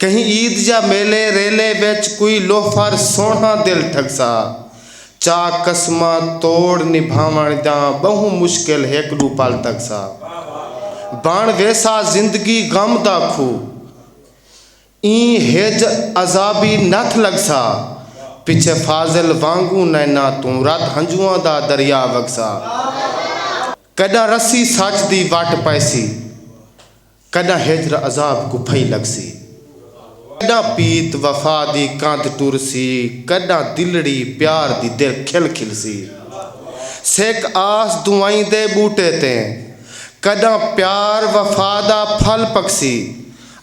کہیں عید یا میلے ریلے وچ کوئی لوفر سوہݨا دل ٹھکسا۔ چا قسماں توڑ نبھاوݨ جاں ٻہوں مشکل ہک ݙو پل تکسا۔ بݨ ویسا زندگی غم دا کھو ایں ہج عذابی نتھ لڳسا۔ پچھے فاضل وانگوں نیناں توں رت ہنجواں دا دریا وڳسا۔ کݙاں رسی سچ دی وٹ پئیسی۔ کݙاں ہجر عذاب کوں پھئی لڳسی۔ کݙاں پیت وفا دی کندھ ٹرسی۔ کݙاں دلڑی پیار دی در کھل کھلسی۔ سک آس دعائیں دے ٻوٹے تے۔ کݙاں پیار وفا دا پھل پکسی۔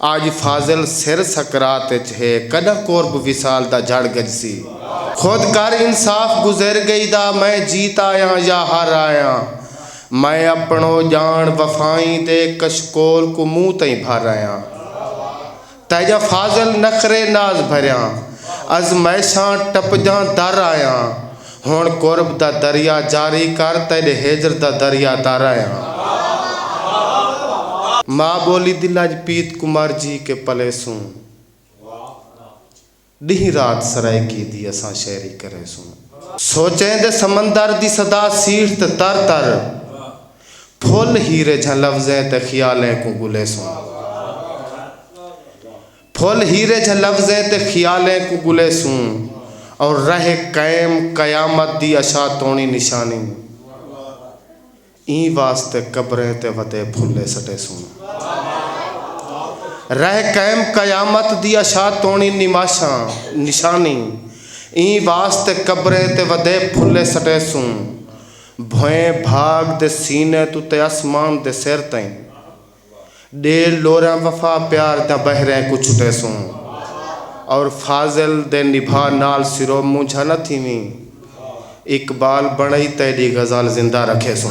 اڄ فاضل سر سکرات اچ ہے۔ کݙاں قرب وصال دا جھڑ گجسی۔ خود کر انصاف گزر ڳئی دا میں جیت آیاں یا ہر آیاں۔ میں اپݨو ڄاݨ وفائیں دے کشکول کوں منہ تئیں بھر آیاں۔ تیجا فاضل نخرے ناز بھریاں ازمائشاں ٹپجاں در آیاں۔ ہݨ قرب دا دریا جاری کر تیݙے ہجر دا دریا در آیاں۔ ماء ٻولی دی لڄ پیت کوں مر جی کے پلیسوں۔ ڈینہہ رات سرائیکی دی اساں شعری کریسوں۔ سوچیں دے سمندر دی صدا سیٹھ تے تر تر پھل ہیرے جھاں لفظیں تے خیالیں کوں گلیسوں۔ پھل ہیرے جھاں لفظیں تے خیالیں کوں گلیسوں اور رہ قیم قیامت دی اشاتونی نشانی۔ ایں واسطے قبریں تے وتے پھلے سٹیسوں۔ رہ قائم قیامت دی اشا توݨی نماشاں، نشانی، ایں واسطے قبریں تے وتے پھلے سٹیسوں۔ بھوئیں بھاگ دے سینے توں تے اسمان دے سر تئیں۔ ڈیل ڈوراں وفا پیار تاں بحریں کوں چھٹیسوں اور فاضل دے نبھا نال سرو مونجھا نہ تھیویں اقبال بنڑئی تیڈی غزل زندہ رکھیسوں۔